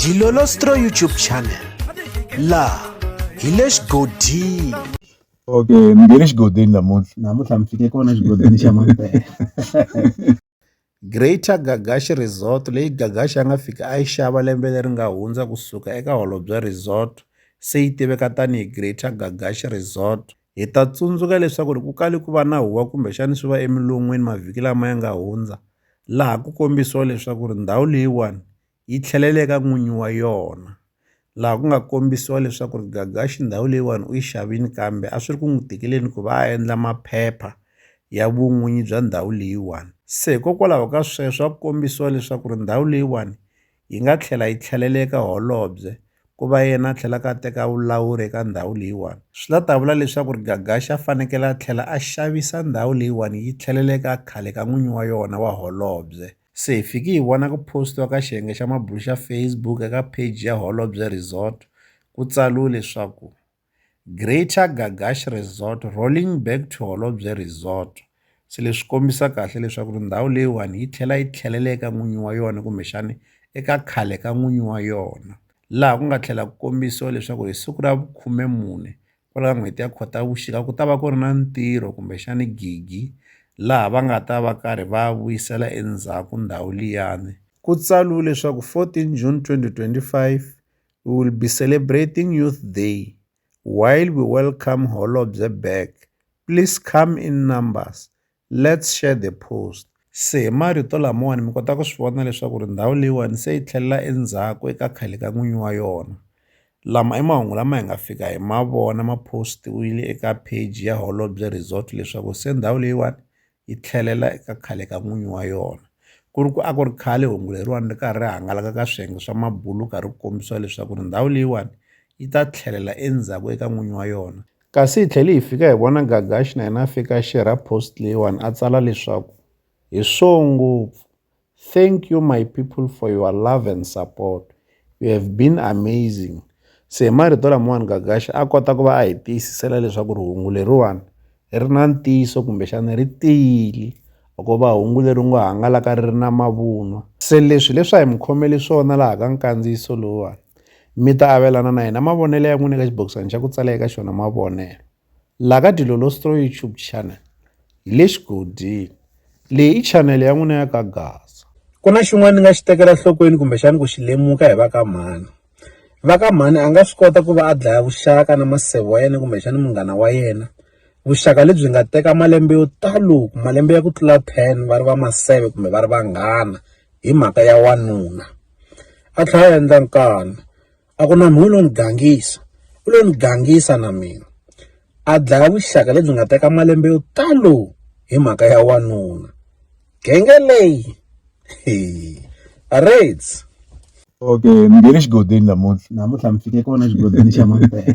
Dilolostro YouTube channel la hi le xigodini okay ni nge le xigodini namuntlha namuntlha mi fike kona xigodini xa mampela Greater Gagashi Resort leyi Gagashi a nga fika a yi xava lembe leri nga hundza kusuka eka Holobye Resort se yi tiveka tanihi Greater Gagashi Resort Hi ta tsundzuka leswaku ku kale ku va na huwa kumbexana swi va emilon'weni mavhiki lama ya nga hundza laha ku kombisiwa leswaku ri ndhawu leyiwani yi tlhelele eka n'winyi wa yona laha ku nga kombisiwa leswaku ri gagaxi ndhawu leyiwani u yi xavini kambe a swi ri ku n'wi tikeleni ku va a endla maphepha ya vun'winyi bya ndhawu leyiwani se hikokwalaho ka sweswo a ku kombisiwa leswaku ri ndhawu leyiwani yi nga tlhela yi tlhelela eka holobye ku va yena a tlhelaka a teka vulawuri eka ndhawu leyiwani swi ta ta vula leswaku ri gagaxa a fanekele a tlhela a xavisa ndhawu leyiwani yi tlhelela eka khale ka n'winyi wa yona wa holobye se hi fiki hi vona ku postiwa ka xiyenge xa mabulo xa facebook eka page ya holobye resort ku tsariwe leswaku Greater Ga Gash Resort, Rolling Back to Holobye Resort. Se leswi kombisa kahle leswaku ri ndhawu leyiwani yi tlhela yi tlhelela eka n'winyi wa yona kumbexani eka khale ka n'winyi wa yona laha ku nga tlhela ku kombisiwa leswaku hi siku ra vukhume mune kwala ka n'hweti ya khotavuxika ku ta va ku ri na ntirho kumbexani gigi laha va nga ta va karhi va vuyisela endzhaku ndhawu liyani ku tsariwe leswaku 14 June 2025 We will be celebrating Youth Day while we welcome Holobye back, please come in numbers, let's share the post. Se hi marito lamawani mi kota ku swi vona leswaku ri ndhawu leyiwani se yi tlhelela endzhaku eka khale ka n'winyi wa yona. Lama i mahungu lama hi nga fika hi ma vona ma post-iwile eka page ya Holobye Resort leswaku se ndhawu leyiwani yi tlhelela eka khale ka n'winyi wa yona ku ri ku a ku ri khale hungu leriwani ri karhi ri hangalaka ka swiyenge swa mabulu wu karhi wu kombisiwa leswaku ri ndhawu leyiwani yi ta tlhelela endzhaku eka n'winyi wa yona kasi hi tlhele hi fika hi vona gagaxi na yena a fika xi ra post leyiwani a tsala leswaku hi swo ngopfu Thank you my people for your love and support. You have been amazing. Se hi marito lamawani Gagashi a kota ku va a hi tiyisisela leswaku rihungu leriwani ri na ntiyiso kumbexana ri tiyile loko va hungu leri ngo hangalaka ri ri na mavunwa se leswi leswi a hi mi khomeli swona laha ka nkandziyiso lowuwani mi ta avelana na hina mavonelo ya n'wina eka xibokisana xa ku tsala eka xona mavonelo La ka Dilolostroy YouTube channel hi le xigodini. Leyi i chanele ya n'wina ya ka Gaza. Ku na xin'wana ni nga xi tekela nhlokweni kumbexana ku xi lemuka hi va ka mhani. Va ka mhani a nga swi kota ku va a dlaya vuxaka na maseve wa yena kumbexana munghana wa yena, vuxaka lebyi nga teka malembe yo talo, malembe ya ku tlula ten va ri va maseve kumbe va ri vanghana hi mhaka ya wanuna. A tlhela a endla nkani. a ku na mhunu lo ni gangisa u lo ni gangisa na mina a dlaya vuxaka lebyi nga teka malembe yo talo hi mhaka ya wanuna genge leyi raids okay ni nge le xigodini namuntlha namuntlha mi fike kona xigodini xa mampela